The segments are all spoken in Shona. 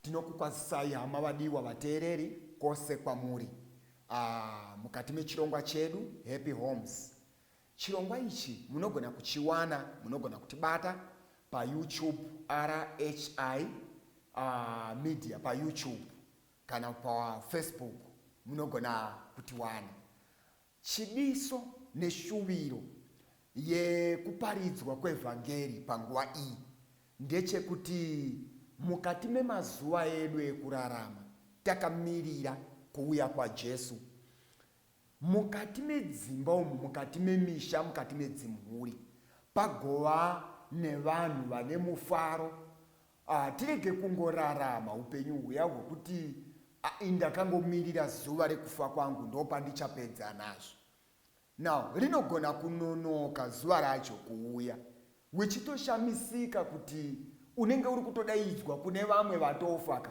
tinokukwazisai hama vadiwa vateereri kwose kwamuri ah, mukati mechirongwa chedu happy homes chirongwa ichi munogona kuchiwana munogona kutibata payoutube rhi uh, media payoutube kana pafacebook munogona kutiwana Chidiso neshuviro yekuparidzwa kwevhangeri panguva iyi ndechekuti mukati memazuva edu ekurarama takamirira kuuya kwaJesu, mukati medzimba umu, mukati memisha, mukati medzimhuri pagova nevanhu vane mufaro, Ah tirege kungorarama hupenyu huya hwekuti ah ndakangomirira zuva rekufa kwangu ndopandichapedza nazvo. Now rinogona kunonoka zuva racho kuuya wechitoshamisika kuti unenge uri kutodaidzwa kune vamwe vatofa ka.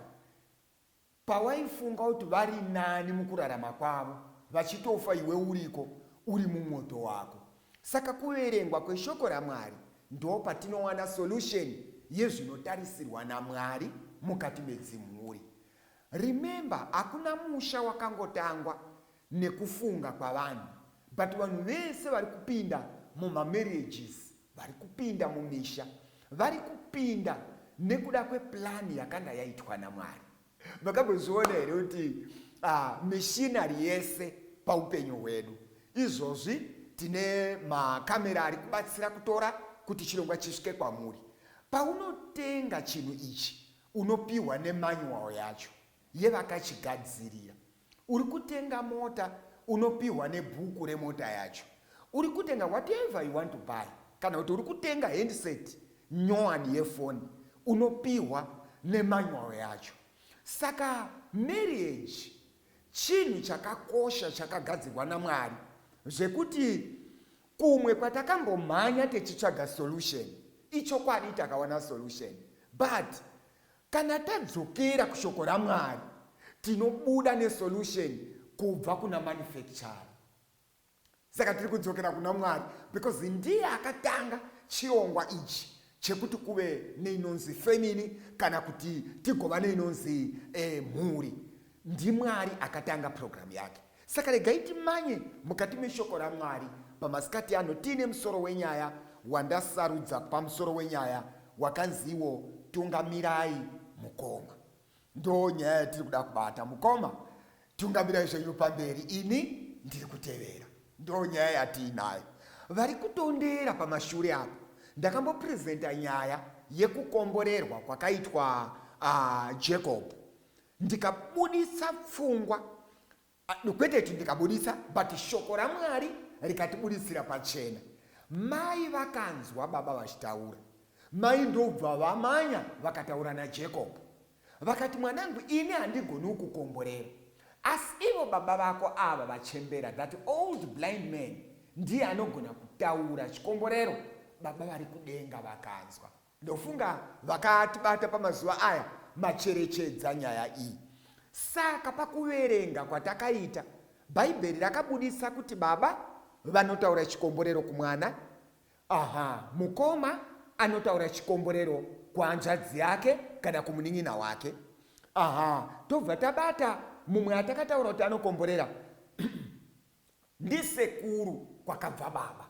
Pawaifunga kuti vari nani mukurarama kwavo vachitofa iwe uriko uri mumwoto wako. Saka kuverengwa kweshoko raMwari ndopatinowana solution yezvinotarisirwa naMwari mukati medzimhuri. Remember hakuna musha wakangotangwa nekufunga kwavanhu but vanhu vese vari kupinda muma marriages vari kupinda mumisha vari kupinda nekuda kweplan yakanga yaitwa naMwari makambozviona here kuti uh, mishinari yese paupenyu hwedu izvozvi tine makamera ari kubatsira kutora kuti chirongwa chisvike kwamuri paunotenga chinhu ichi unopiwa nemanual yacho yevakachigadzirira Uri kutenga mota unopihwa nebhuku remota yacho. Uri kutenga whatever you want to buy kana kuti uri kutenga handset nyowani yefoni unopihwa nemanual yacho. Saka marriage chinhu chakakosha chakagadzirwa naMwari zvekuti kumwe kwatakambomhanya techitsvaga solution ichokwadi takawana solution but Kana tadzokera kushoko raMwari tinobuda nesolution kubva kuna manufacturer. Saka tiri kudzokera kuna Mwari because ndiye akatanga chirongwa ichi chekuti kuve neinonzi family kana kuti tigova neinonzi eh, mhuri. NdiMwari akatanga program yake. Saka regai timanye mukati meshoko raMwari pamasikati ano tiine musoro wenyaya wandasarudza kupa musoro wenyaya wakanziwo Tungamirai Mukoma. Ndoo nyaya yatiri kuda kubata mukoma, tungamirai zvenyu pamberi ini ndiri kutevera. Ndoo nyaya yatiinayo. Vari kutondera pamashure apo ndakambopresenta nyaya yekukomborerwa kwakaitwa uh, Jacob ndikabuditsa pfungwa ah, kwete kuti ndikabuditsa but shoko ramwari rikatibuditsira pachena mai vakanzwa baba vachitaura mai ndobva vamanya vakataura najacob vakati mwanangu ini handigoni ukukomborera asi ivo baba vako ava vachembera that old blind man ndiye anogona kutaura chikomborero baba vari kudenga vakanzwa Ndofunga vakatibata pamazuva aya macherechedza nyaya iyi. Saka pakuverenga kwatakaita, Bhaibheri rakabudisa kuti baba vanotaura chikomborero kumwana, aha, mukoma anotaura chikomborero kuhanzvadzi yake kana kumunin'ina wake. Aha, tobva tabata mumwe atakataura kuti anokomborera ndisekuru kwakabva baba.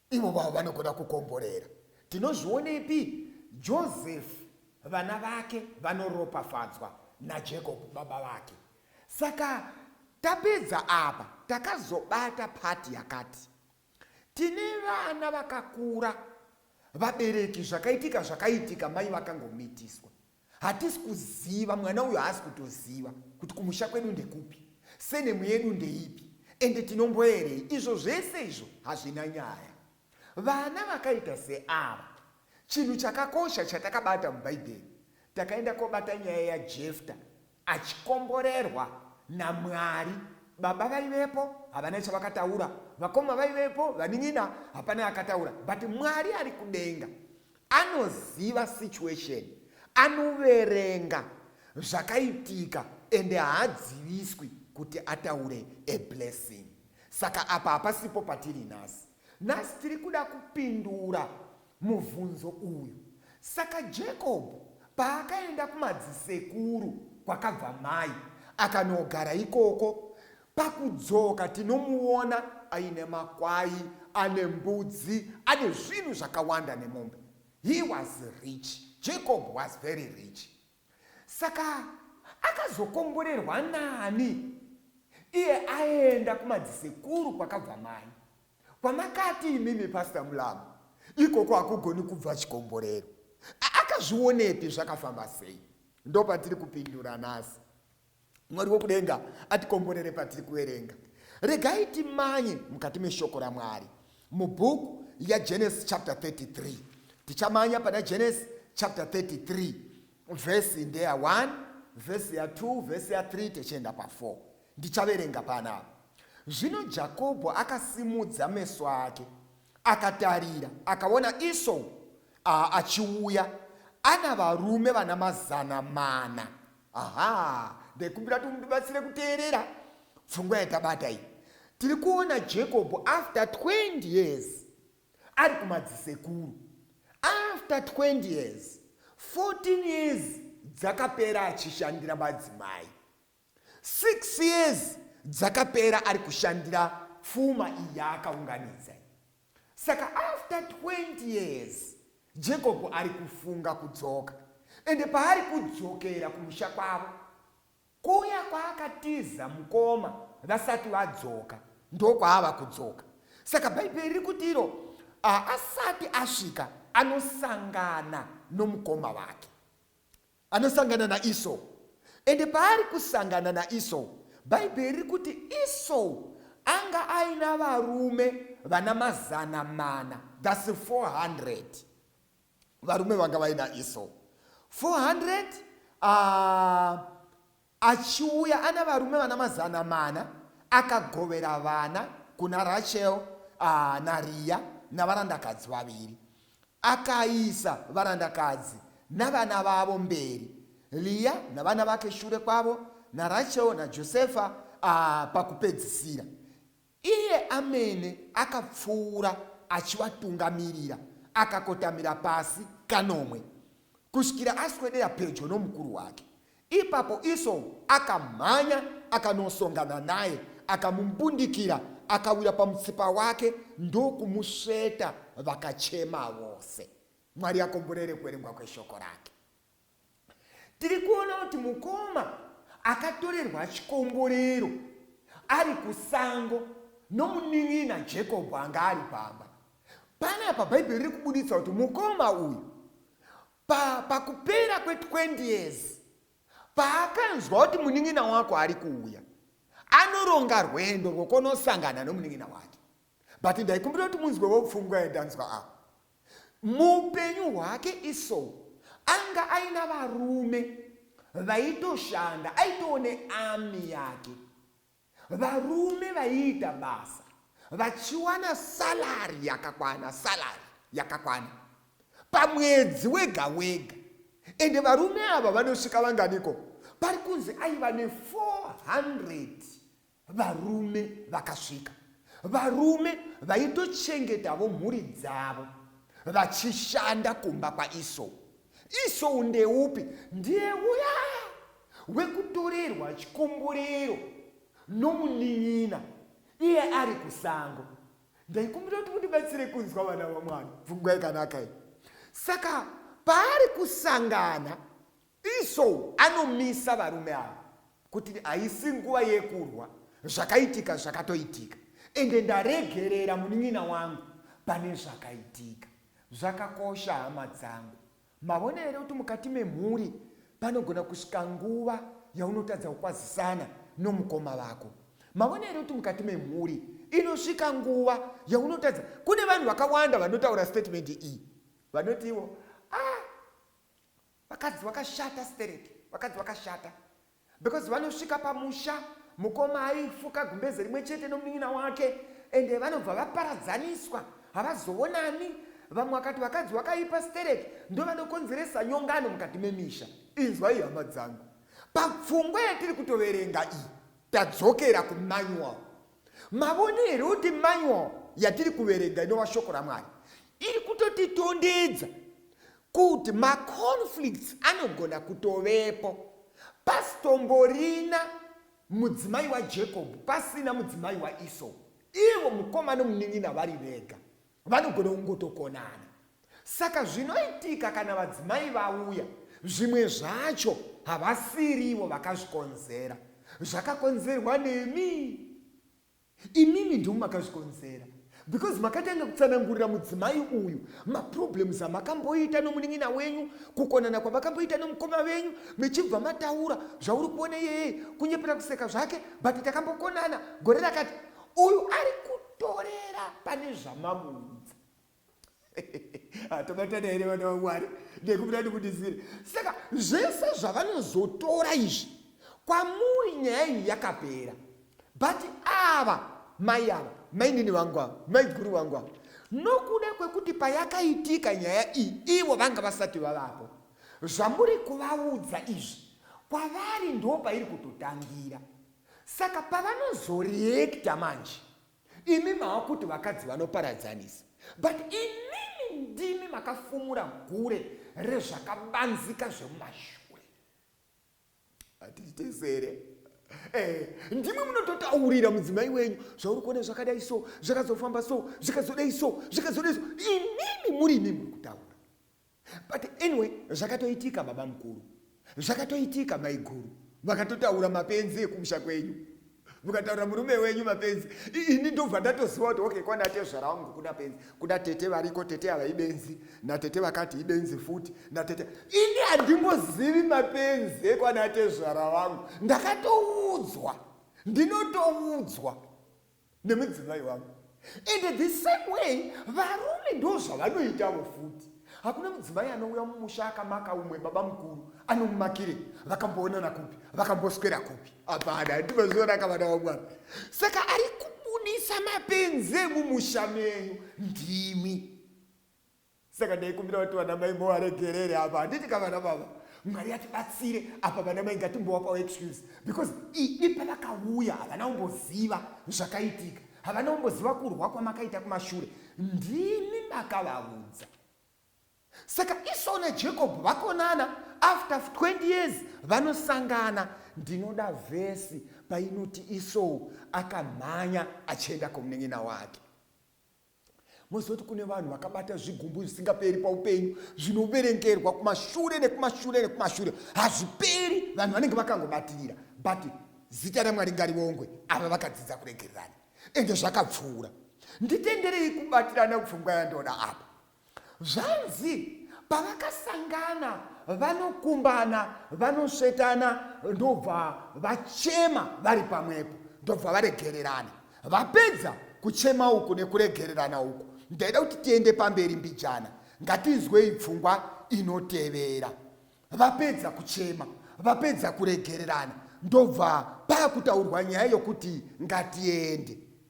Ivo vavo vanogona kukomborera. Tinozvionepi? Josefu, vana vake vanoropafadzwa naJacob baba vake. Saka tapedza apa, takazobata pati yakati. Tine vana vakakura, vabereki zvakaitika zvakaitika mai vakangomitiswa. Hatisi kuziva, mwana uyu haasi kutoziva kuti kumusha kwedu ndekupi, senemu yedu ndeipi ende tinomboerei. Izvo zvese izvo hazvina nyaya. Vana vakaita seava, chinhu chakakosha chatakabata muBhaibheri, takaenda kobata nyaya yaJefta Achikomborerwa naMwari. Baba vaivepo havana chavakataura, vakoma vaivepo, vanin'ina hapana akataura but Mwari ari kudenga anoziva situation, anoverenga zvakaitika ende haadziviswi kuti ataure a blessing. Saka apa hapasipo patiri nhasi. Nhasi tiri kuda kupindura mubvunzo uyu. Saka Jacob paakaenda kumadzisekuru kwakabva mai akanogara ikoko, pakudzoka tinomuona aine makwai, ane mbudzi, ane zvinhu zvakawanda nemombe. He was rich. Jacob was very rich. Saka akazokomborerwa nani iye aenda kumadzisekuru kwakabva mai kwamakati imimi pastor mulamu ikoko hakugoni kubva chikomborero akazvionepi zvakafamba sei ndopatiri kupindura nhasi Mwari wokudenga atikomborere patiri kuverenga. Regai timanye mukati meshoko raMwari mubhuku yaGenesis chapter 33. Tichamanya pana Genesis chapter 33 vhesi ndeya 1 vhesi ya 2 vhesi ya 3 techienda pa4 ndichaverenga panapa. Zvino Jakobho akasimudza meso ake akatarira akaona Esau achiuya ana varume vana mazana mana aha ndaikumbira kuti mundibatsire kuteerera pfungwa yatabata iyi tiri kuona jacob after 20 years ari kumadzisekuru after 20 years 14 years dzakapera achishandira madzimai 6 years dzakapera ari kushandira pfuma iyi yaakaunganidza Saka after 20 years Jacob ari kufunga kudzoka ende paari kudzokera kumusha kwavo kuya kwaakatiza mukoma vasati vadzoka ndokwaava kudzoka saka bhaibheri riri kuti iro asati asvika anosangana nomukoma wake Anosangana naEsau. Ende paari kusangana naEsau, Bhaibheri riri kuti Esau anga aina varume vana mazana mana, thus 400. Varume vanga vaina Esau. 400, uh, Achiuya ana varume vana mazana mana, akagovera vana kuna Rachel naRiya navarandakadzi vaviri. Akaisa varandakadzi navana vavo mberi, Riya navana vake shure kwavo, naRachel naJosefa pakupedzisira. Iye amene akapfuura achivatungamirira, akakotamira pasi kanomwe, kusvikira aswedera pedyo nomukuru wake. Ipapo Esau akamhanya akanosongana naye, akamumbundikira, akawira pamutsipa wake ndokumusveta, vakachema vose. Mwari akomborere kuverengwa kweshoko rake. Tiri kuona kuti mukoma akatorerwa chikomborero ari kusango nomunin'ina Jacob anga ari pamba. Panapa Bhaibheri riri kubuditsa kuti mukoma uyu pa, pakupera kwe 20 years paakanzwa kuti munin'ina wako ari kuuya anoronga rwendo rwokunosangana nomunin'ina wake but ndaikumbira kuti munzwewo pfungwa yandanzwa apa Muupenyu hwake Esau anga aina varume vaitoshanda, aitoo nearmy yake, varume vaiita basa vachiwana salary yakakwana, salary yakakwana pamwedzi wega wega. Ende varume ava vanosvika vanganiko? Pari kunzi aiva ne 400 varume vakasvika varume vaitochengetavo mhuri dzavo vachishanda kumba kwaisou isou ndeupi ndiye uya wekutorerwa chikomborero nomunin'ina iye ari kusango ndaikumbira kuti mundibatsire kunzwa vana vamwana pfungwa yakanaka iyi saka paari kusangana Esau anomisa varume ava kuti haisi nguva yekurwa zvakaitika zvakatoitika ende ndaregerera munin'ina wangu pane zvakaitika zvakakosha hama dzangu mavona here kuti mukati memhuri panogona kusvika nguva yaunotadza kukwazisana nomukoma vako mavona here kuti mukati memhuri inosvika nguva yaunotadza kune vanhu vakawanda vanotaura statement iyi vanoti ivo ah, vakadzi vakashata stereki vakadzi vakashata because vanosvika pamusha mukoma aifuka gumbeze rimwe chete nomunin'ina wake ende vanobva vaparadzaniswa havazoonani vamwe vakati vakadzi vakaipa stereki ndovanokonzeresa nyongano mukati memisha inzwai hama dzangu papfungwa yatiri kutoverenga iyi tadzokera kumanual Mavone here kuti manual yatiri kuverenga inova shoko raMwari iri kutotitondedza kuti maconflicts anogona kutovepo pasitomborina mudzimai waJacob pasina mudzimai waEsau ivo mukoma nomunin'ina vari vega Vanogona kungotokonana. Saka zvinoitika kana vadzimai vauya, zvimwe zvacho havasiri ivo vakazvikonzera. Zvakakonzerwa nemi. Imimi ndimi makazvikonzera because makatanga kutsanangurira mudzimai uyu maproblems amakamboita nomunin'ina wenyu kukonana kwamakamboita nomukoma venyu mechibva mataura zvauri kuona iyeye kunyepera kuseka zvake but takambokonana gore rakati uyu ari kutorera pane zvamamuudza hatobatana here vana vamwari ndekubuda ndikundizire saka zvese zvavanozotora izvi kwamuri nyaya iyi yakapera but ava mai ava mainini vangu ava maiguru vangu ava nokuda kwekuti payakaitika nyaya iyi ivo vanga vasati vavapo zvamuri kuvaudza izvi kwavari ndo pairi kutotangira Saka pavanozoreacta manje imi maakuti vakadzi vanoparadzanisa but imimi ndimi makafumura gure rezvakabanzika zvemumashure hatiti tesere Eh, ndimwe munototaurira mudzimai wenyu zvauri kuona zvakadai so zvakazofamba so zvikazodai so zvikazodai so imimi muri imimi muri kutaura but anyway zvakatoitika baba mukuru zvakatoitika maiguru vakatotaura mapenzi ekumusha kwenyu mukataura murume wenyu mapenzi ini ndobva ndatoziva kuti okay kwana tezvara wangu kuna penzi kuna tete variko tete ava ibenzi natete vakati ibenzi futi natete ini handimbozivi mapenzi ekwana tezvara wangu ndakatoudzwa ndinotoudzwa nemudzimai wangu and the same way varume ndo zvavanoitavo futi hakuna mudzimai anouya mumusha akamaka umwe baba mukuru anomumakire vakamboonana kupi vakamboswera kupi hapana ndimazionaka vana vamwana saka ari kubudisa mapenzi emumusha menyu ndimi saka ndaikumbira kuti vana mai movaregerere apa handiti ka vana baba mwari atibatsire apa vana mai ngatimbowapawo excuse because idi pavakauya havana kumboziva zvakaitika havana kumboziva kurwa kwamakaita kumashure ndimi makavaudza saka isau najacob vakonana after 20 years vanosangana ndinoda vhesi painoti isou akamhanya achienda komunen'ina wake Moziva kuti kune vanhu vakabata zvigumbu zvisingaperi paupenyu zvinoverengerwa kumashure nekumashure nekumashure hazviperi vanhu vanenge vakangobatirira but zita ramwari ngarivongwe ava vakadzidza kuregererana ende zvakapfuura nditenderei kubatirana pfungwa yandoda apa Zvanzi pavakasangana vanokumbana vanosvetana ndobva vachema vari pamwepo ndobva varegererana vapedza kuchema uku nekuregererana uku ndaida kuti tiende pamberi mbijana ngatinzwei pfungwa inotevera vapedza kuchema vapedza kuregererana ndobva paakutaurwa nyaya yokuti ngatiende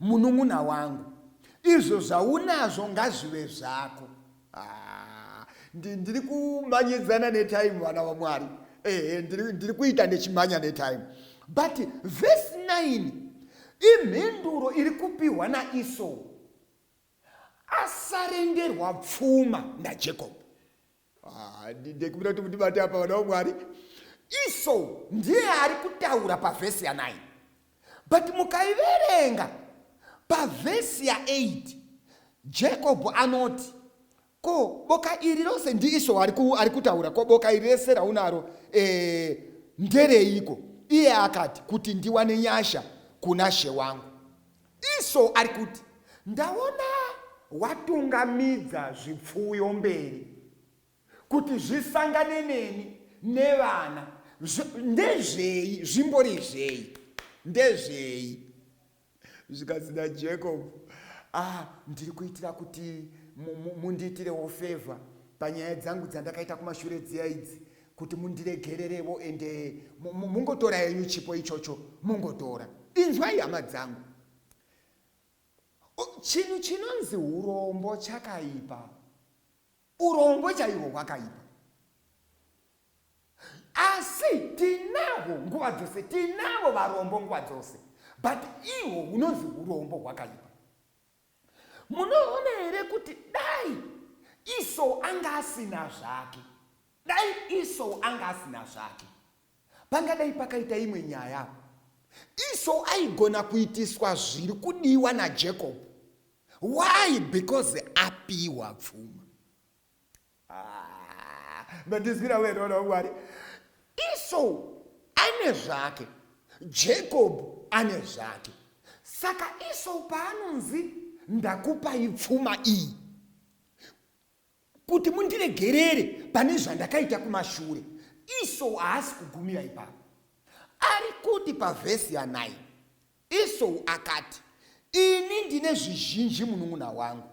Munun'una wangu izvo zvaunazvo ngazvive zvako. Ah, ndiri kumanyidzana netime vana vamwari ehe ndiri kuita ndechimanya netime but vhesi 9 imhinduro iri kupiwa naisou asarengerwa pfuma najacob Ah, ndikumbira kuti mundibate apa vana vamwari iso ndiye ari kutaura pavhesi ya9 but mukaiverenga pavhesi ya8 jacob anoti ko boka iri rose ndiiso ari kutaura ko boka iri rese raunaro e, ndereiko iye akati kuti ndiwane nyasha kuna she wangu Iso ari kuti ndaona watungamidza zvipfuyo mberi kuti zvisangane neni nevana ndezvei zvimbori zvei ndezvei zvikanzi najacob ah ndiri kuitira kuti mundiitirewo favor panyaya dzangu dzandakaita kumashure dziya idzi kuti mundiregererevo ende mungotora henyu chipo ichocho mungotora inzwai hama dzangu chinhu chinonzi urombo chakaipa urombo chaihwo hwakaipa asi tinavo nguva dzose tinavo varombo nguva dzose but ihwo hunonzi urombo hwakaipa munoona here kuti dai iso anga asina zvake dai iso anga asina zvake pangadai pakaita imwe nyaya iso aigona kuitiswa zviri kudiwa najacob why because apiwa pfuma Ah, mandinzwira wena mwana wamwari iso ane zvake jacob ane zvake saka iso paanonzi ndakupai pfuma iyi kuti mundiregerere pane zvandakaita kumashure iso haasi kugumira ipapo ari kuti pavhesi yanai Esau akati, Ini ndine zvizhinji munun'una wangu,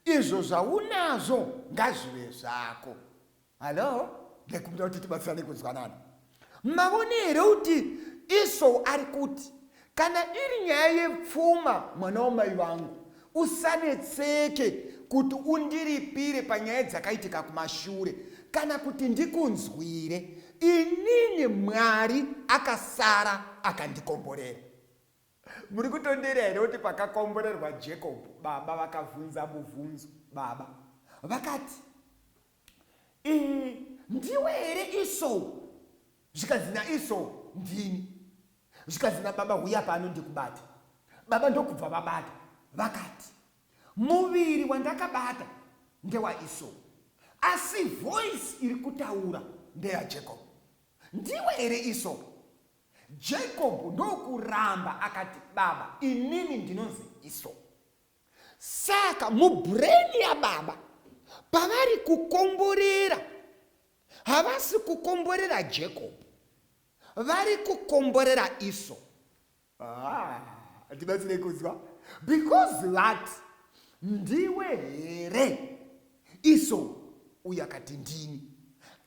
izvo zvaunazvo ngazvive zvako. Hallo? Ndaikumbira kuti tibatsirane kunzwanana. Mavone here kuti Esau ari kuti, kana iri nyaya yepfuma mwana wamai vangu, Usanetseke kuti undiripire panyaya dzakaitika kumashure kana kuti ndikunzwire inini Mwari akasara akandikomborera. Muri kutondeera here kuti pakakomborerwa Jacob baba vakavhunza mubvunzo baba vakati ndiwe here iso zvikanzi naiso ndini zvikanzi nababa huya pano ndikubata baba ndokubva vabata vakati muviri wandakabata ndewaiso asi voice iri kutaura ndeyajacob ndiwe here iso jacob ndokuramba akati baba inini ndinonzi iso Saka mubrain yababa pavari kukomborera havasi kukomborera Jacob vari kukomborera Esau. Ah, tibatsire kunzwa because vati ndiwe here Esau uye akati ndini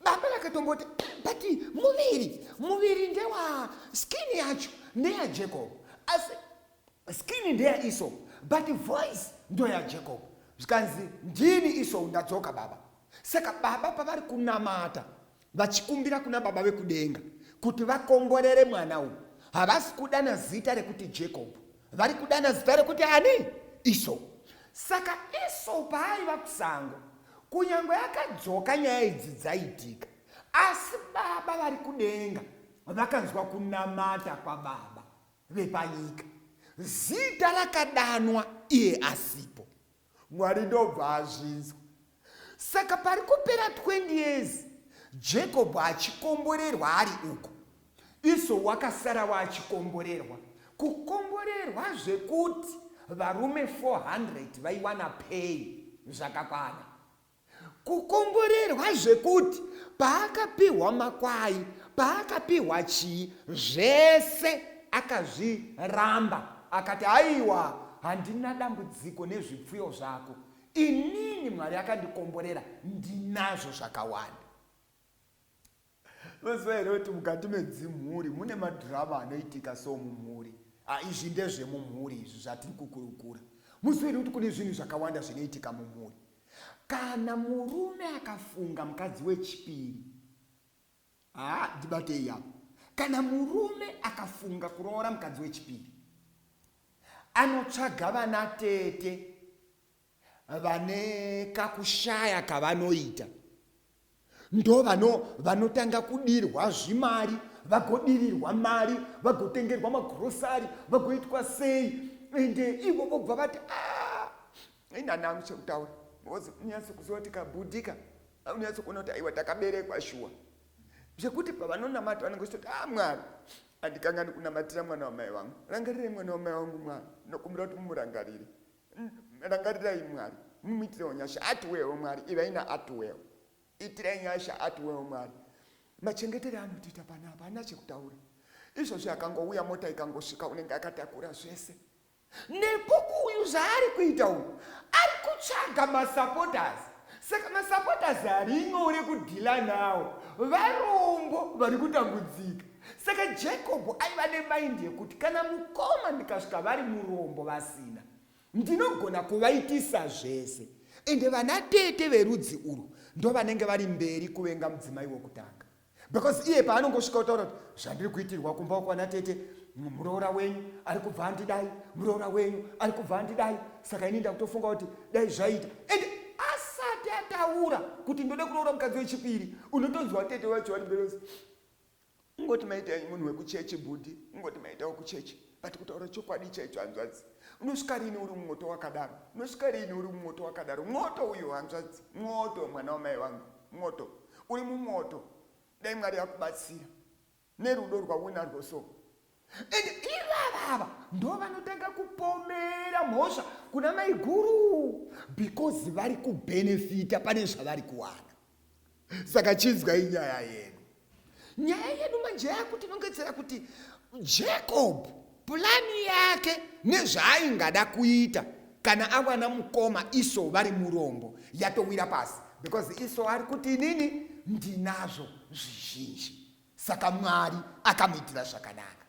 baba vakatomboti but muviri muviri ndewa skin yacho neya Jacob asi Skin ndeya iso but voice ndoya Jacob. Zvikanzi ndini iso ndadzoka baba. Saka baba pavari kunamata vachikumbira kuna baba vekudenga kuti vakomborere mwana uyu havasi kudana zita rekuti Jacob vari kudana zita rekuti ani iso. Saka iso paaiva kusango kunyange akadzoka nyaya idzi dzaitika asi baba vari kudenga vakanzwa kunamata kwababa vepanyika. Zita rakadanwa iye asipo. Mwari ndobva azvinzwa. Saka pari kupera 20 years Jacob achikomborerwa ari uko. Iso wakasara waachikomborerwa. Kukomborerwa zvekuti varume 400 vaiwana pay zvakakwana. Kukomborerwa zvekuti paakapihwa makwai, paakapihwa chii, zvese akazviramba. Akati, Haiwa, handina dambudziko nezvipfuyo zvako. Inini Mwari akandikomborera, ndinazvo zvakawanda. Mazuva here kuti mukati medzimhuri mune madhirama anoitika so mumhuri ah, izvi ndezvemumhuri izvi zvatiri kukurukura muziva here kuti kune zvinhu zvakawanda zvinoitika mumhuri kana murume akafunga mukadzi wechipiri haa ah, ndibatei yapo kana murume akafunga kuroora mukadzi wechipiri anotsvaga vana tete vane kakushaya kavanoita ndo vano vanotanga kudirwa zvimari vagodirirwa mari vagotengerwa magrosari vagoitwa sei ende ivo vobva vati ah, inanangu chekutaura unyaso kuziva kuti kabudika unyaso kuona kuti aiwa takaberekwa shuwa zvekuti pavanonamata vanenge vachitoti a ah, mwari andikangani kunamatira mwana wamai vangu rangarire mwana wamai vangu mwana ndokumbira kuti mumurangarire rangarirai mwari mumuitirewo nyasha atiwewo mwari ivai naatiwewo itirai nyasha atiwewo mwari machengetere anotiita pana apa ana chekutaura izvozvi akangouya mota ikangosvika unenge akatakura zvese nekuku uyu zvaari kuita uyu ari kutsvaga masupporters saka masupporters ari nyore kudhila nawo varombo vari kutambudzika Saka Jacob aiva nemaindi yekuti kana mukoma ndikasvika vari murombo vasina, ndinogona kuvaitisa zvese. Ende vana tete verudzi urwu ndovanenge vari mberi kuvenga mudzimai wokutanga. Because iye paanongosvika otaura kuti zvandiri kuitirwa kumba kwana tete, muroora wenyu ari kubva andidai, muroora wenyu ari kubva andidai. Saka ini ndakutofunga kuti dai zvaita. And asati ataura kuti ndode kuroora mukadzi wechipiri, unotonzwa tete wacho vari mberi Ungoti maita munhu wekuchechi bhudhi, ungoti maita wekuchechi but kutaura chokwadi chaicho hanzvadzi unosvika rini uri mumwoto wakadaro unosvika rini uri mumwoto wakadaro mwoto uyo hanzvadzi mwoto mwana wamai vangu mwoto uri mumwoto dai mwari akubatsira nerudo rwaunarwo so and ivava ava ndo vanotanga kupomera mhosva kuna maiguru because vari kubhenefita pane zvavari kuwana saka chinzwai nyaya yedu nyaya yedu manje yakutinongedzera kuti jacob pulani yake nezvaaingada kuita kana awana mukoma iso vari murombo yatowira pasi because iso ari kuti inini ndinazvo zvizhinji saka mwari akamuitira zvakanaka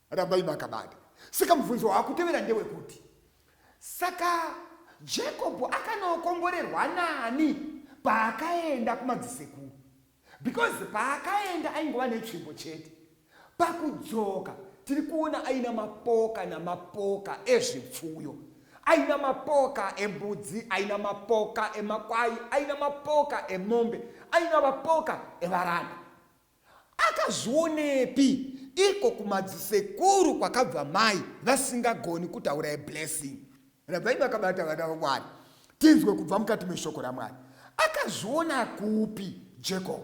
rambai makabata saka mubvunzo waakutevera ndewekuti saka jacob akanokomborerwa nani paakaenda kumadzisekuru because paakaenda aingova netsvimbo chete pakudzoka tiri kuona aina mapoka namapoka ezvipfuyo aina mapoka embudzi aina mapoka emakwai aina mapoka emombe aina mapoka evaranda akazvionepi iko kumadzisekuru kwakabva mai vasingagoni kutaura eblessing rabvai vakabata vana vamwari tinzwe kubva mukati meshoko ramwari akazviona kupi jacob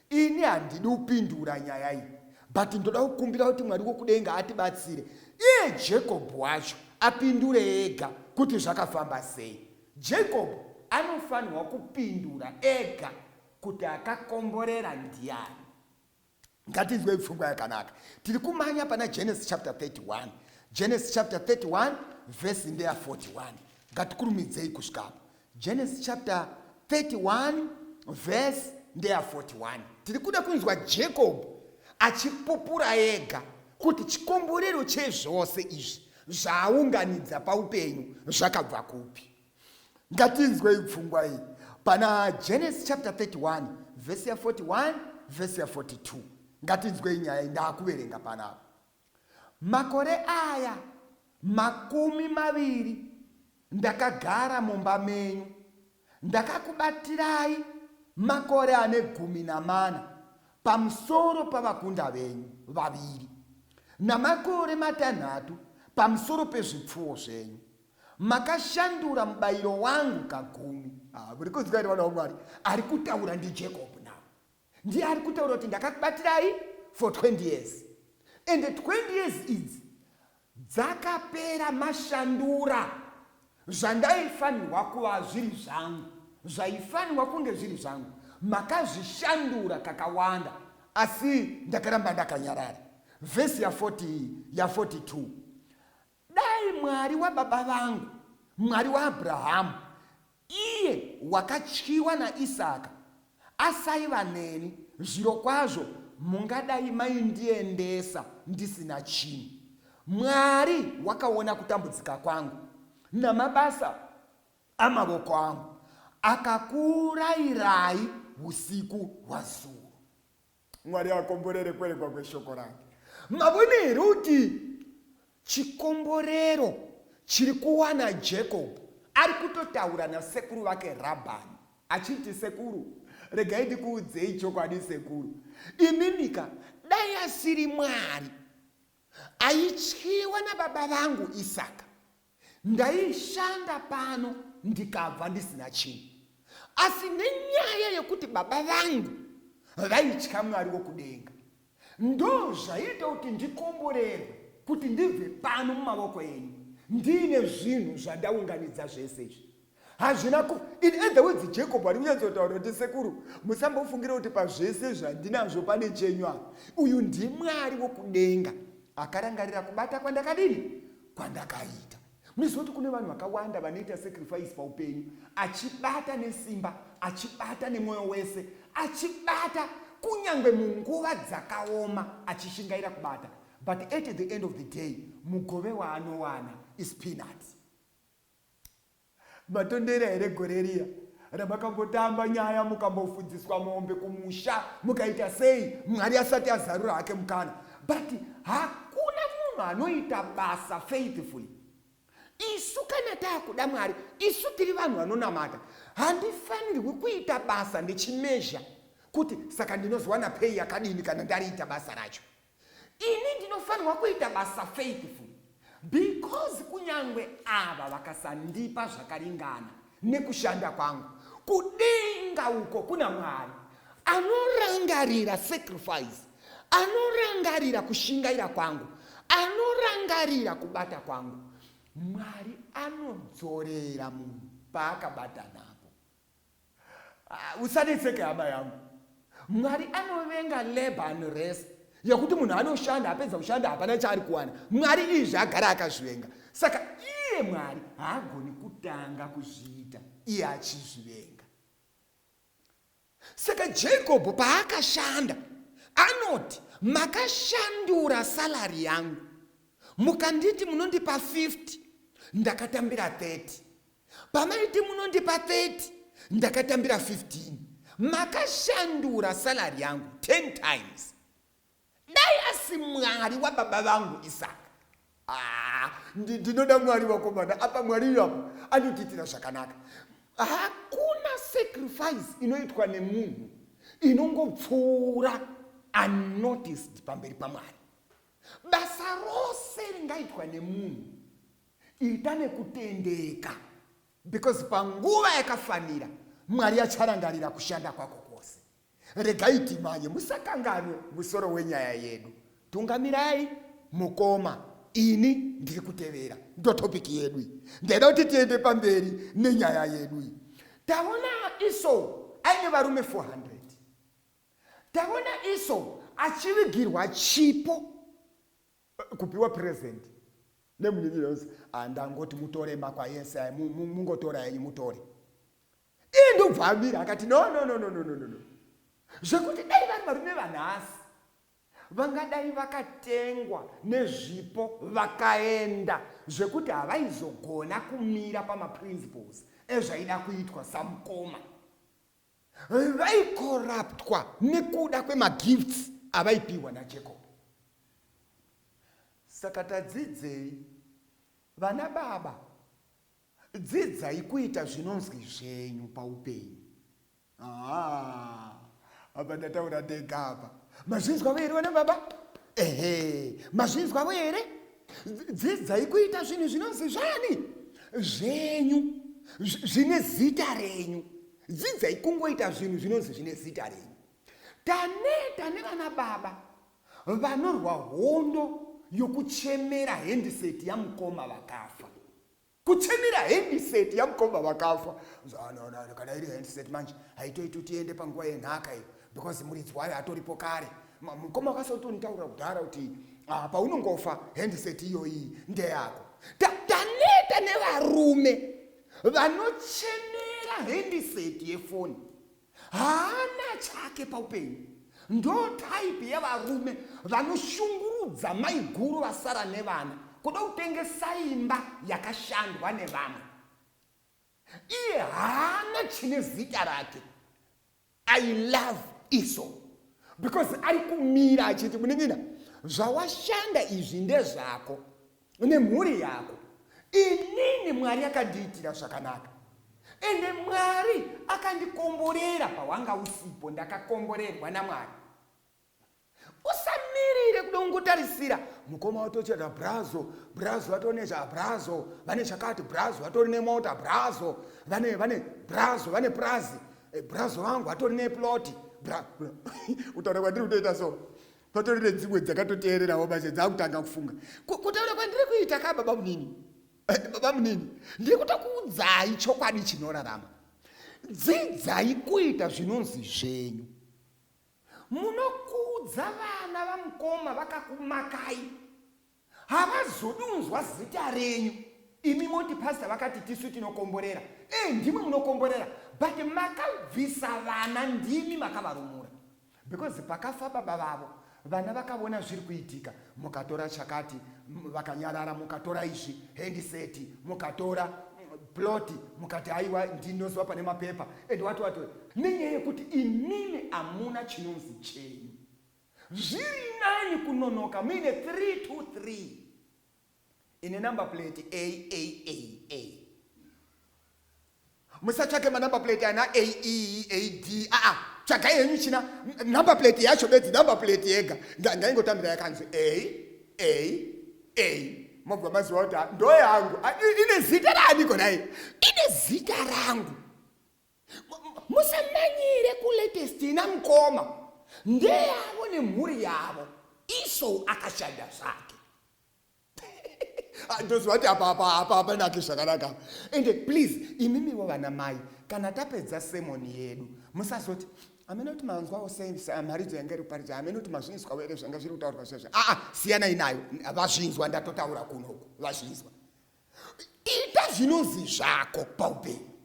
Ini handidi kupindura nyaya iyi but ndoda kukumbira kuti Mwari wokudenga atibatsire iye Jacob wacho apindure ega kuti zvakafamba sei. Jacob anofanirwa kupindura ega kuti akakomborera ndiani. Ngatinzwei pfungwa yakanaka. Tiri kumhanya pana Genesis chapter 31. Genesis chapter 31 verse ndeya 41. Ngatikurumidzei kusvika apo. Genesis chapter 31 verse ndeya 41 tiri kuda kunzwa jacob achipupura ega kuti chikomborero chezvose izvi zvaaunganidza paupenyu zvakabva kupi ngatinzwei pfungwa iyi pana genesis chapter 31 vhesi ya 41 vhesi ya 42 ngatinzwei nyaya iyi ndaakuverenga panapa Makore aya makumi maviri ndakagara mumba menyu, ndakakubatirai makore ane gumi namana pamusoro pavakunda venyu vaviri, namakore matanhatu pamusoro pezvipfuwo zvenyu. Makashandura mubayiro wangu kagumi. Ah, muri kunzwa here vana vaMwari? Ari kutaura ndiJacob now. ndiye ari kutaura kuti ndakakubatirai for 20 years and 20 years idzi dzakapera mashandura zvandaifanirwa kuva zviri zvangu zvaifanirwa kunge zviri zvangu makazvishandura kakawanda asi ndakaramba ndakanyarara vhesi ya40 ya42 Dai Mwari wababa vangu, Mwari waAbrahamu, iye wakatyiwa naIsaka, asaiva neni, zvirokwazvo mungadai maindiendesa ndisina chinhu. Mwari wakaona kutambudzika kwangu namabasa amavoko angu, akakuurayirai usiku hwazuro. mwari akomborere kwerekwa kweshoko rake mavone here kuti chikomborero chiri kuwana jacob ari kutotaura nasekuru vake rabhani achiti sekuru regai ndikuudzei chokwadi sekuru imimika dai asiri mwari aityiwa nababa vangu isaka Ndaishanda pano ndikabva ndisina chinhu, asi nenyaya yekuti baba vangu vaitya Mwari wokudenga, ndozvaiita kuti ndikomborerwe kuti ndibve pano mumavoko enyu ndiine zvinhu zvandaunganidza zvese izvi. hazvina ku in other words jacob ari kunyatsotaura kuti sekuru musambofungira kuti pazvese zvandinazvo pane chenyu apa uyu ndimwari wokudenga akarangarira kubata kwandakadini kwandakaita munoziva kuti kune vanhu vakawanda vanoita sacrifice paupenyu achibata nesimba achibata nemwoyo wese achibata kunyange munguva dzakaoma achishingaira kubata but at the end of the day mugove waanowana is peanuts Matondera here gore riya ramakambotamba nyaya mukambofudziswa mombe kumusha mukaita sei mwari asati azarura hake mukana but hakuna munhu anoita basa faithfully isu kana taakuda mwari isu tiri vanhu vanonamata handifanirwi kuita basa ndichimezha kuti saka ndinozowana pei yakadini kana ndariita basa racho Ini ndinofanirwa kuita basa faithful because kunyangwe ava vakasandipa zvakaringana nekushanda kwangu kudenga uko kuna mwari anorangarira sacrifice anorangarira kushingaira kwangu anorangarira kubata kwangu mwari anodzorera munhu paakabata napo Ah, usanetseke hama yangu mwari anovenga labor and rest yekuti munhu anoshanda apedza kushanda hapana chaari kuwana mwari izvi agara akazvivenga saka iye mwari haagoni kutanga kuzviita iye achizvivenga saka jakobho paakashanda anoti makashandura salari yangu mukanditi munondipa 50 ndakatambira 30 Pamaiti munondipa 30 ndakatambira 15 makashandura salary yangu 10 times dai asi mwari wababa vangu isaka ah, ndinoda mwari wakomana apa mwari iwapo anotiitira zvakanaka hakuna sacrifice inoitwa nemunhu inongopfuura unnoticed pamberi pamwari basa rose ringaitwa nemunhu Ita nekutendeka because panguva yakafanira Mwari acharangarira kushanda kwako kwose. Regai timanye, musakanganwe musoro wenyaya yedu. Tungamirai mukoma, ini ndiri kutevera. Ndotopic yedu iyi. Ndaida kuti tiende pamberi nenyaya yedu iyi. Taona iso aine varume 400. Taona iso achivigirwa chipo. kupiwa present nemunyinyi yonzi ah, ndangoti mutore makwa yese aya mungotora enyu mutore iye ndobva amira akati no no no no no no no zvekuti dai vari varume vanhasi vangadai vakatengwa nezvipo vakaenda zvekuti havaizogona kumira pamaprinciples ezvaida kuitwa samukoma vaikoraptwa nekuda kwemagifts avaipiwa najacob saka tadzidzei vana baba dzidzai kuita zvinonzwi zvenyu paupenyu apa ndataura ndega apa mazvinzwavo here vana baba ehe mazvinzwavo here dzidzai kuita zvinhu zvinonzi zvani zvenyu zvine zita renyu dzidzai kungoita zvinhu zvinonzi zvine zita renyu taneta nevana baba vanorwa hondo yokuchemera hendiseti yamukoma vakafa kuchemira handset yamkomba vakafa zvaanoona kana iri handset manje haitoiti kuti iende panguva yenhaka iyo because muridzi wayo hatoripo kare mukoma wakasoti unitaura kudhara kuti ah, paunongofa handset iyoyi ndeyako taneta nevarume vanochemera handset yefoni haana chake paupenyu ndo type yevarume vanoshungurudza maiguru vasara nevana kuda kutengesa imba yakashandwa nevamwe iye haana chine zita rake i love iso because ari kumira achiti munin'ina zvawashanda izvi ndezvako nemhuri yako inini mwari akandiitira zvakanaka ende mwari akandikomborera pawanga usipo ndakakomborerwa namwari usamirire kuda kungotarisira mukoma watochera brazo brazo vatone zva brazo vane zvakati brazo vatori nemota brazo vane vane brazo vane prazi eh, brazo vangu vatori neploti utaura kwandiri kutoita so patori nedzimwe dzakatoteererawo manje dzakutanga kufunga kutaura kwandiri kuita ka baba munini eh, baba munini ndiri kutokuudzai chokwadi chinorarama dzidzai kuita zvinonzi zvenyu munokuudza vana vamukoma vakakumakai havazodi unzwa zita renyu imi moti pasta vakati tisu tinokomborera e ndimwe munokomborera but makabvisa vana ndimi makavarumura because pakafa baba vavo vana vakavona zviri kuitika mukatora chakati vakanyarara mukatora izvi hendiseti mukatora ploti mukati haiwa ndinoziva pane mapepa and wati wati nenyaya yekuti imimi hamuna chinonzi chenyu Zviri nani kunonoka muine 323 ine number plate aaa musatsvake manumber plate ana ae ad aa tsvagai henyu china number plate yacho bedzi number plate yega ndaingotambira yakanzi a a a mobva maziva kuti ndoyangu ine zita raaniko naye ine zita rangu musamanyire kulatest ina mukoma ndeyavo nemhuri yavo iso akashanda zvake ah, ndozvati apapanake zvakanaka ende please imimiwo vana mai kana tapedza semoni yedu musazoti amene kuti manzwawo semharidzo yanga iri kuparidza amene kuti mazvinzwawo ere zvanga zviri kutaurwa zvazvo aa ah, ah, siyanai nayo vazvinzwa ndatotaura kunoku vazvinzwa ita zvinonzi zvako paupenyu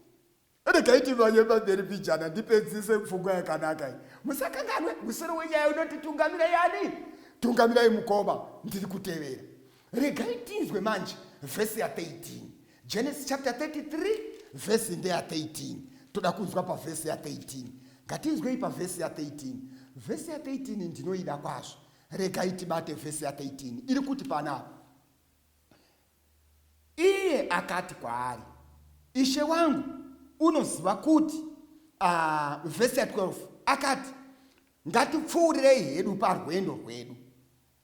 ndikaiti vanye pamberi pijana ndipedzise pfungwa yakanaka i musakanganwe musoro wenyaya unoti tungamira yani tungamirai mukoma ndiri kutevera regai tinzwe manje vhesi ya 13 genesis chapter 33 vhesi ndeya 13 toda kunzwa pavhesi ya 13 ngatinzwei pavhesi ya 13 vhesi ya 13 ndinoida kwazvo regai tibate vhesi ya 13 iri kuti panapa Iye akati kwaari, Ishe wangu, unoziva kuti, uh, vhesi ya 12 akati, Ngatipfuurirei hedu parwendo rwedu,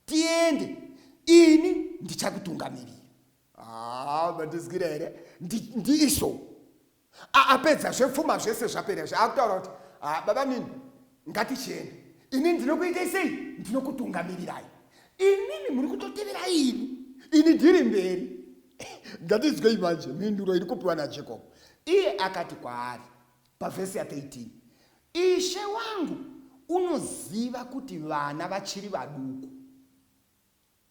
tiende, ini ndichakutungamirira. Ah, mandizwira here? Ndiisho. Ndi aapedza zvepfuma zvese zvapera zve akutaura kuti ah, baba mimi ngatichienda ini ndinokuitai sei ndinokutungamirirai inini muri kutotevera ini ini ndiri mberi ngatizwei manje mhinduro iri kupiwa najacob iye akati kwaari pavhesi ya 13 ishe wangu unoziva kuti vana vachiri vaduku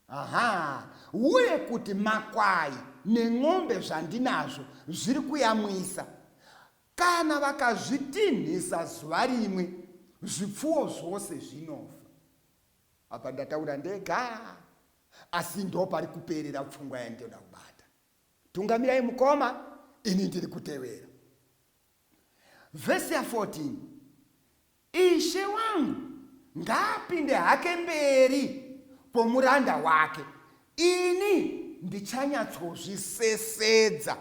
Aha, uye kuti makwai nen'ombe zvandinazvo zviri kuyamwisa. Kana vakazvitinhisa zuva rimwe, zvipfuwo zvose zvinofa. Apa ndataura ndega, asi ndo pari kuperera pfungwa yandinoda kubata. Tungamirai mukoma, ini ndiri kutevera. Vhesi ya 14 Ishe wangu ngaapinde hake mberi kwomuranda wake, ini ndichanyatsozvisesedza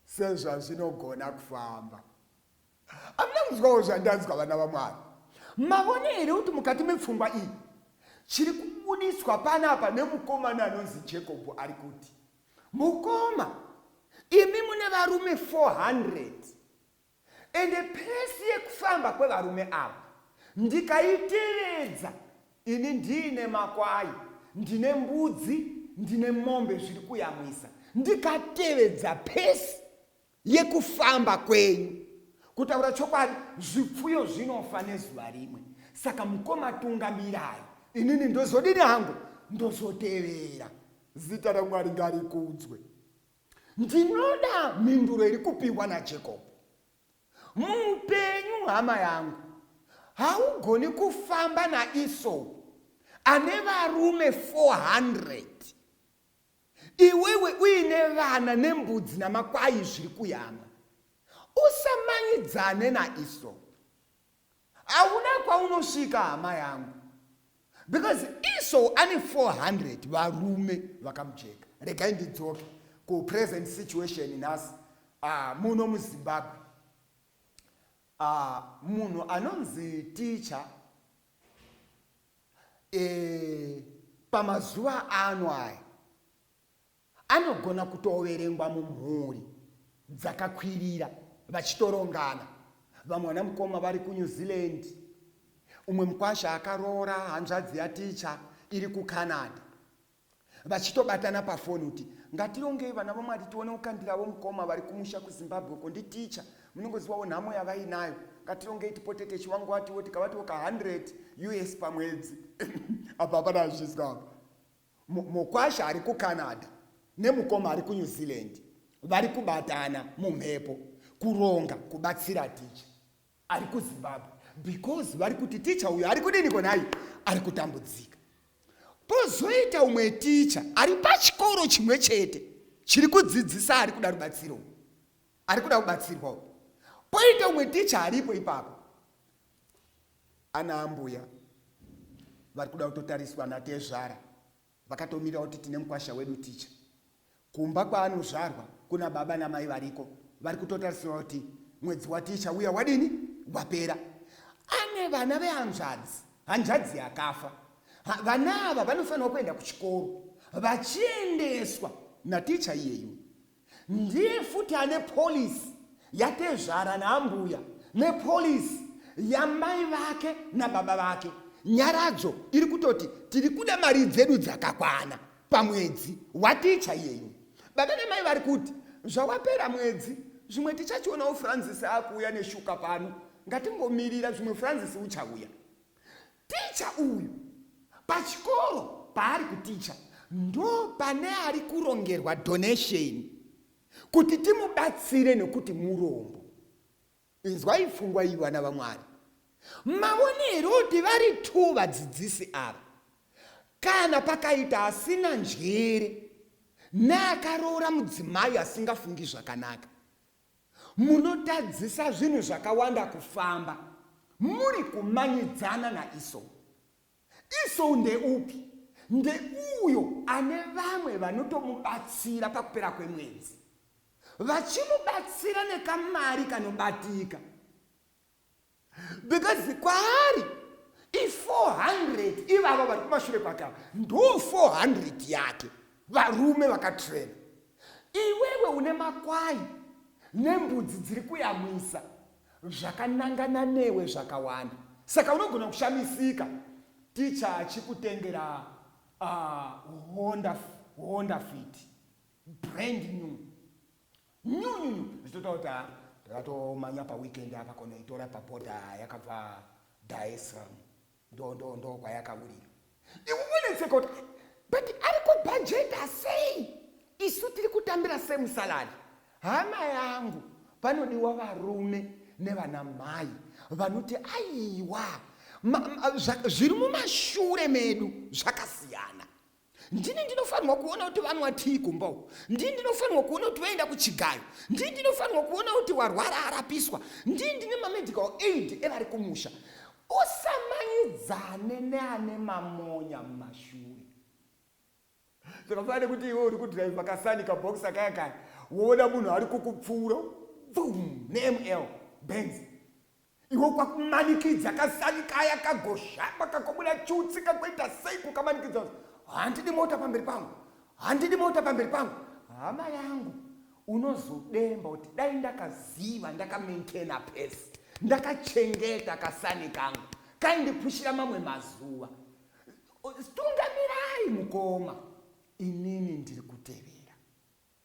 sezvazvinogona kufamba. Amuna kunzwawo zvandanzwa vana vaMwari? Mavone here kuti mukati mepfungwa iyi chiri kubudiswa panapa nemukomana anonzi Jacob ari kuti, mukoma, imi mune varume 400 Ende pesi yekufamba kwevarume ava ndikaitevedza ini ndiine makwai, ndine mbudzi, ndine mombe zviri kuyamwisa. Ndikatevedza pesi yekufamba kwenyu, kutaura chokwadi zvipfuyo zvinofa nezuva rimwe. Saka mukoma tungamirai, inini ndozodini hangu, ndozotevera. Zita raMwari ngarikudzwe. Ndinoda mhinduro iri kupihwa naJacob. Muupenyu hama yangu, haugoni kufamba naEsau ane varume 400 iwewe uine vana nembudzi namakwai zviri kuyama. Usamanyidzane naEsau. Hauna kwaunosvika hama yangu because Esau ane 400 varume vakamujeka. Regai ndidzoke kupresent situation nhasi uh, muno muzimbabwe uh, munhu anonzi ticha e, eh, pamazuva ano aya anogona kutoverengwa mumhuri dzakakwirira vachitorongana. Vamwe vana mukoma vari kuNew Zealand, umwe mukwasha akaroora hanzvadzi yaticha iri kuCanada, vachitobatana pafoni kuti ngatirongei vana vaMwari tione kukandiravo mukoma vari kumusha kuZimbabwe uko nditicha, munongozivawo nhamo yavainayo, ngatirongei tipote techivanguatiwo tikavatiwo ka 100 us pamwedzi apa hapana azvizwa apa. Mukwasha ari kuCanada nemukoma ari kuNew Zealand vari kubatana mumhepo kuronga kubatsira ticha ari kuZimbabwe because vari kuti ticha uyo ari kudiniko nhai ari kutambudzika. Pozoita umwe ticha ari pachikoro chimwe chete chiri kudzidzisa ari kuda rubatsiro, ari kuda kubatsirwa. Poita umwe ticha aripo ipapo Ana ambuya vari kuda kutotariswa natezvara vakatomira kuti tine mukwasha wedu ticha kumba kwaanozvarwa kuna baba namai variko vari kutotarisirwa kuti mwedzi waticha uya wadini wapera ane vana vehanzvadzi hanzvadzi yakafa vana ava vanofanirwa kuenda kuchikoro vachiendeswa naticha iyeyu Ndiye futi ane policy yatezvara naambuya nepolicy yamai vake nababa vake. Nyaradzo iri kutoti tiri kuda mari dzedu dzakakwana pamwedzi waticha yenyu. Baba namai vari kuti zvawapera mwedzi zvimwe tichachionawo Francis akuuya neshuka pano ngatingomirira zvimwe Francis uchauya. Ticha uyu pachikoro paari kuticha ndo pane ari kurongerwa donation kuti timubatsire nekuti murombo. Inzwai pfungwa iyi vana vaMwari. Mavone here kuti vari two vadzidzisi ava? Kana pakaita asina njere neakaroora mudzimai asingafungi zvakanaka. Munotadzisa zvinhu zvakawanda kufamba muri kumanyidzana naIsou. Isou ndeupi? Ndeuyo ane vamwe vanotomubatsira pakupera kwemwedzi, vachimubatsira nekamari kanobatika. because kwaari i400 ivavo vari kumashure kwake ava ndo 400 yake varume vakatrena iwewe une makwai nembudzi dziri kuyamwisa zvakanangana newe zvakawanda saka unogona kushamisika ticha achikutengera uh, honda, honda fit brand new nyunyunyu zvichitotaura kuti haa ndakatomanya paweekend apa konoitora paboda yakabva daesram ndo ndo ndo kwayakawurira iwe wonetseka kuti but ari kubhajeta sei isu tiri kutambira semusalari hama yangu panodiwa varume nevana mai vanoti aiwa zviri mumashure medu zvakasiyana ndini ndinofanirwa kuona kuti vanwatii kumba uku ndini ndinofanirwa kuona kuti vaenda kuchigayo ndini ndinofanirwa kuona kuti warwara arapiswa ndini ndine mamedical aid evari kumusha usamanidzane neane mamonya mumashure zvakafanana nekuti iwe uri kudrive kasani kabhokisa kaya kaya woona munhu ari kukupfuura bum neml benzi Iwo kwakumanikidza kasani kaya kagoshamba kakobuda chutsi kakoita sei kukamanikidza handidi mota pamberi pangu handidi mota pamberi pangu hama yangu unozodemba kuti dai ndakaziva ndakamaintaina pese ndakachengeta kasani kangu kaindipushira mamwe mazuva tungamirai mukoma inini ndiri kutevera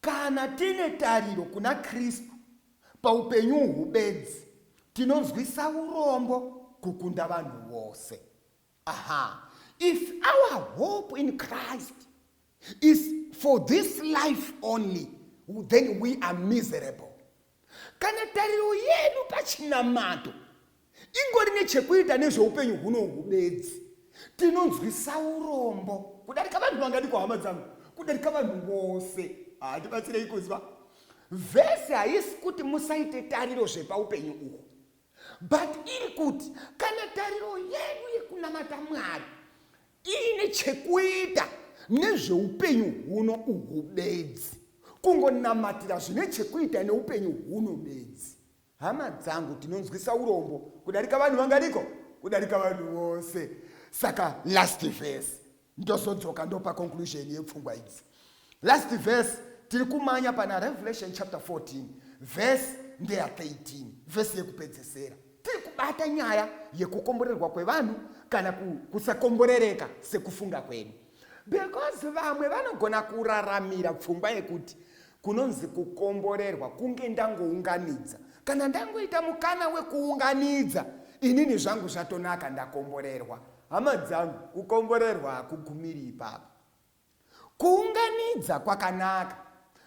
Kana tine tariro kuna Kristu paupenyu uhu bedzi, tinonzwisa urombo kukunda vanhu vose. Aha, if our hope in Christ is for this life only, then we are miserable. Kana tariro yedu pachinamato ingori nechekuita nezveupenyu hunohu bedzi, tinonzwisa urombo kudarika vanhu vangadi kuhama dzangu, kudarika vanhu vose. Hatibatsirei kuziva vhesi haisi kuti musaite tariro zvepaupenyu uhu, but iri kuti kana tariro yedu yekunamata Mwari iine chekuita nezveupenyu huno uhu bedzi kungonamatira zvine chekuita neupenyu huno bedzi hama dzangu tinonzwisa urombo kudarika vanhu vangariko kudarika vanhu vose saka last verse ndozodzoka ndopa conclusion yepfungwa idzi Last verse tiri kumanya pana Revelation chapter 14 verse ndeya 13 verse yekupedzesera. Tiri kubata nyaya yekukomborerwa kwevanhu kana kusakomborereka sekufunga kwedu. Because vamwe vanogona kuraramira pfungwa yekuti kunonzi kukomborerwa kunge ndangounganidza kana ndangoita mukana wekuunganidza inini zvangu zvatonaka ndakomborerwa hama dzangu kukomborerwa hakugumiri ipapo Kuunganidza kwakanaka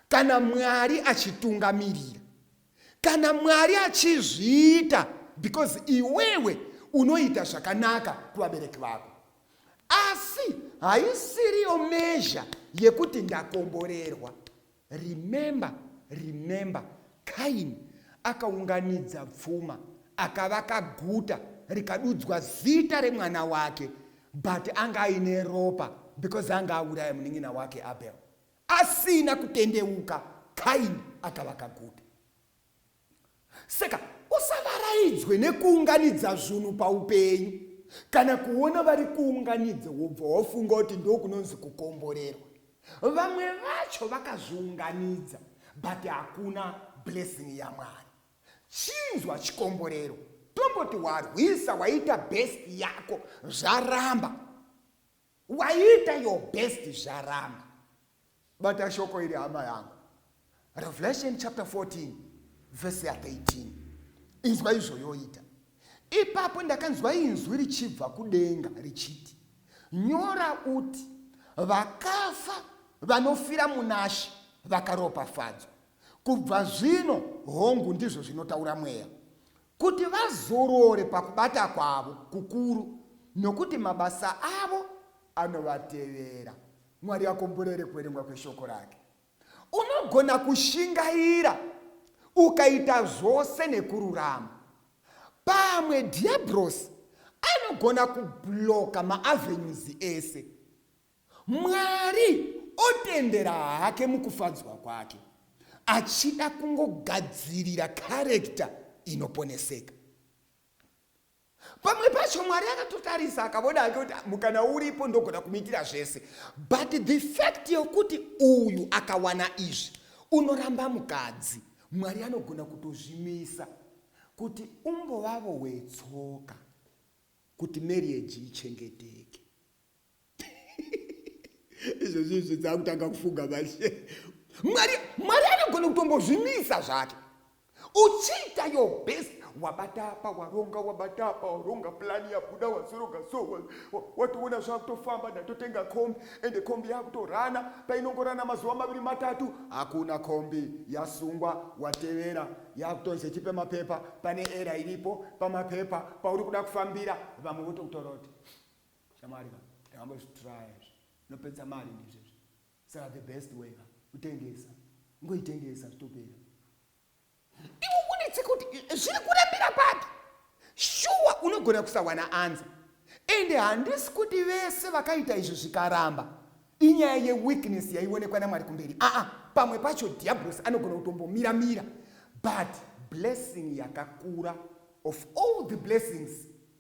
kana Mwari achitungamirira. Kana Mwari achizviita because iwewe unoita zvakanaka kuvabereki vako. Asi haisiriyo measure yekuti ndakomborerwa. Remember, remember, Kaini akaunganidza pfuma, akavaka guta rikadudzwa zita remwana wake, but anga aine ropa because anga auraya munin'ina wake Abel. Asina kutendeuka, Kaini akavaka guta. Saka usavaraidzwe nekuunganidza zvunhu paupenyu. Kana kuona vari kuunganidza wobva wafunga kuti ndokunonzi kukomborerwa. Vamwe vacho vakazviunganidza but hakuna blessing yaMwari. Chinzwa chikomborero tomboti warwisa waita best yako zvaramba. Waita your best zvaramba. Bata shoko iri hama yangu. Revelation chapter 14 verse 13. Inzwa izvo yoita. Ipapo ndakanzwa inzwi richibva kudenga richiti, nyora uti vakafa vanofira munashe vakaropafadzwa kubva zvino hongu ndizvo zvinotaura mweya Kuti vazorore pakubata kwavo kukuru, nokuti mabasa avo anovatevera. Mwari akomborere kuverengwa kweshoko rake. Unogona kushingaira ukaita zvose nekururama. Pamwe dhiabhurosi anogona kubhuloka maavenues ese. Mwari otendera hake mukufadzwa kwake achida kungogadzirira karekta inoponeseka. Pamwe pacho Mwari akatotarisa akavona hake kuti mukana uripo ndogona kumuitira zvese. But the fact yokuti uyu akawana izvi unoramba mukadzi, Mwari anogona kutozvimisa kuti umbovavo wetsoka kuti marriage ichengeteke. izvezvi izvi dzaakutanga kufunga manje mwari mwari anogona kutombozvimisa zvake uchiita your best wabata apa waronga wabata apa waronga plani yabuda wazoroga so watoona wa, zvakutofamba ndatotenga kombi ende kombi yakutorana painongorana mazuva maviri matatu hakuna kombi yasungwa watevera yakutonzi chipe mapepa pane era iripo pamapepa pauri kuda kufambira vamwe votokutoroti Shamwari ka tangamba zvitraya izvi zvinopedza mari ndizvo izvi saka the best way ka kutengesa ngoitengesa zvitopera iwe unetsi kuti zviri kurambira papi shuwa unogona kusawana anza ende handisi kuti vese vakaita izvi zvikaramba inyaya yeweakness yaionekwa namwari kumberi aa ah, ah, pamwe pacho diablos anogona kutombomira mira but blessing yakakura of all the blessings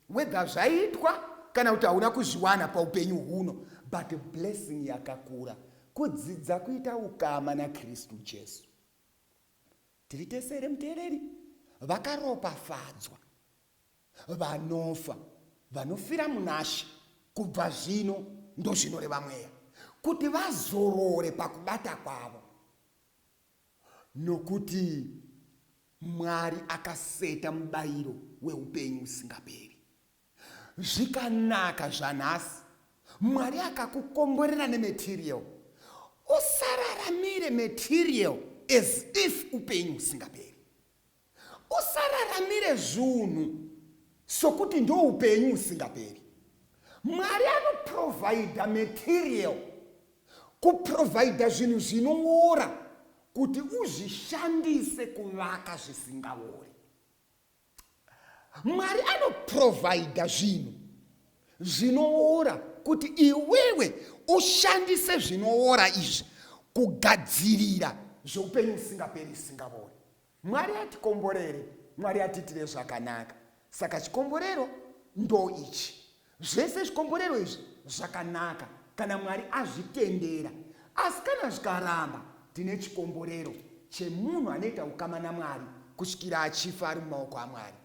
Whether zvaitwa kana kuti hauna kuzviwana paupenyu huno but blessing yakakura kudzidza kuita ukama naKristu Jesu. Tiri tese here muteereri? Vakaropafadzwa vanofa vanofira munashe kubva zvino ndozvinoreva mweya kuti vazorore pakubata kwavo Nokuti Mwari akaseta mubayiro weupenyu usingaperi. Zvikanaka zvanhasi. Mwari akakukomborera nematerial. Usararamire material as if upenyu husingaperi. Usararamire zvunhu sokuti ndoupenyu husingaperi. Mwari anoprovidha material, kuprovidha zvinhu zvinoora kuti uzvishandise kuvaka zvisingaori. Mwari anoprovidha zvinhu zvinoora kuti iwewe ushandise zvinoora izvi kugadzirira zveupenyu usingaperi usingavori Mwari atikomborere, Mwari atiitire zvakanaka. Saka chikomborero ndo ichi. Zvese zvikomborero izvi zvakanaka kana Mwari azvitendera. Asi kana zvikaramba, tine chikomborero chemunhu anoita ukama naMwari kusvikira achifa ari mumaoko aMwari.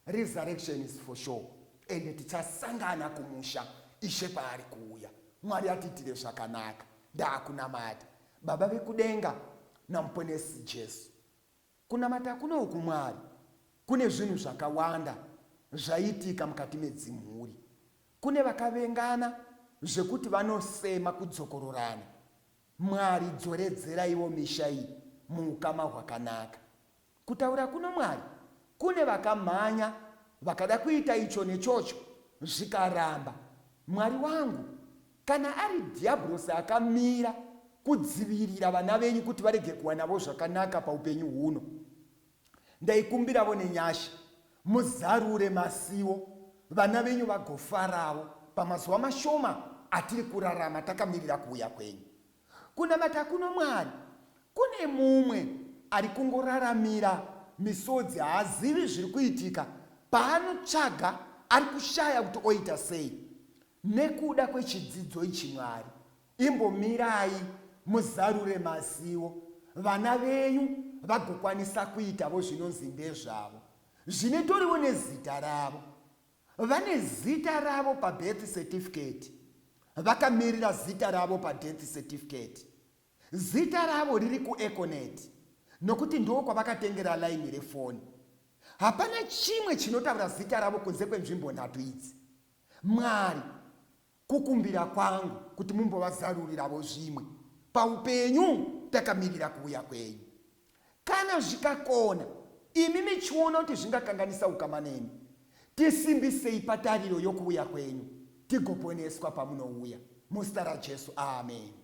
Resurrection is for sure ende tichasangana kumusha Ishe paari kuuya. Mwari atiitire zvakanaka. Ndaakunamata Baba vekudenga naMuponesi Jesu. Kunamata kuno uku Mwari kune zvinhu zvakawanda zvaiitika mukati medzimhuri. Kune vakavengana zvekuti vanosema kudzokororana. Mwari dzoredzerai wo misha iyi muukama hwakanaka. Kutaura kuno Mwari kune vakamhanya vakada kuita icho nechocho zvikaramba. Mwari wangu, kana ari Dhiyabhurosi akamira kudzivirira vana venyu kuti varege kuwanavo zvakanaka paupenyu huno, ndaikumbiravo nenyasha muzarure masiwo vana venyu vagofaravo pamazuva mashoma atiri kurarama takamirira kuuya kwenyu. Kunamata kuno Mwari kune mumwe ari kungoraramira misodzi haazivi zviri kuitika paanotsvaga ari kushaya kuti oita sei nekuda kwechidzidzo ichi Mwari imbomirai muzarure mazivo vana venyu vagokwanisa kuitavo zvinonzi ndezvavo zvinetorivo nezita ravo Vane zita ravo pabirth certificate vakamirira zita ravo padeath certificate. Zita ravo riri kuEconet nokuti ndoo kwavakatengera line refoni. Hapana chimwe chinotaura zita ravo kunze kwenzvimbo nhatu idzi. Mwari, Kukumbira kwangu kuti mumbovazaruriravo zvimwe paupenyu takamirira kuuya kwenyu. Kana zvikakona, imi michiona kuti zvingakanganisa ukama nemi, tisimbisei patariro yokuuya kwenyu tigoponeswa pamunouya. Muzita raJesu, ameni.